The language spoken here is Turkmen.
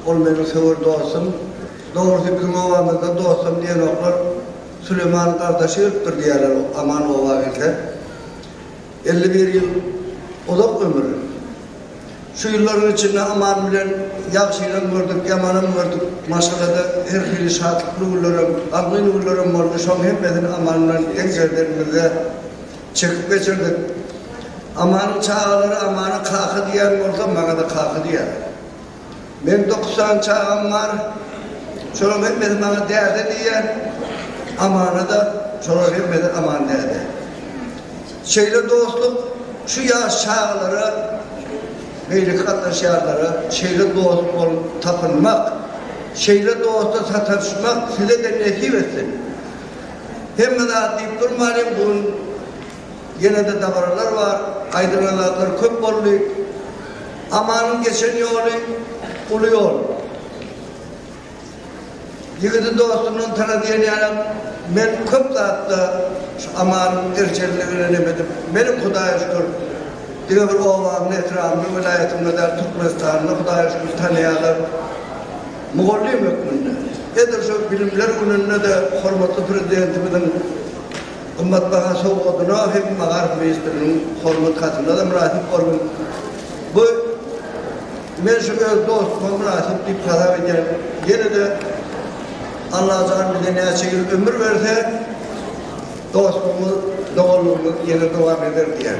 Ol meniň söwer dostum. Dogrusy biziň obamyzda dostum diýenoklar Süleman gardaşy ölüpdir diýýärler Aman oba gelse. Elli bir ýyl uzak ömür. Şu ýyllaryň içinde Aman bilen ýagşynam gördük, ýamanam gördük. Maşgalada her hili şatlykly günlerem, gamgyn günlerem boldy. Şoň hemmesini Aman bilen deň serdenimizde çekip geçirdik. Amanyň çagalary Amana kaka diýen bolsa, maňa-da kaka diýýärler. Meň dokuz sany çagam bar. Şolaryň hemmesi maňa däde diýýär. Amana-da şolaryň hemmesi Aman däde. Şeýle dostluk şu ýaş çagalara, beýleki gatnaşýanlara şeýle dost bolup tapynmak, şeýle dosta sataşmak size-de nesip etsin. Hemme zat diýip durmalyň, bu gün. Ýene-de dabaralar bar, aýdylan zatlar köp boldy. Amanyň geçen ýoly uly ýol. Ýigidi dostundan tana diýen ýalam, men köp zatda şu Amanyň erjelini öýlenem edip, meniň Hudaýa şükür, diňe bir obamda, etrabymda, welaýatymda däl, Türkmenistanda Hudaýa şükür tanaýarlar. Mugallym hökmünde, edil şol Bilimler gününde-de hormatly Prezidentimiziň, Gymmatbaha sowgadyna hem Magarif ministriniň hormat hatyna-da mynasyp boldum. Bu men şu öz dostuma mynasyp diýip hasap edýän. Ýene-de Allajan bize näçe ýyl ömür berse, dostlugymyz, doganlygymyz ýene dowam eder diýýän.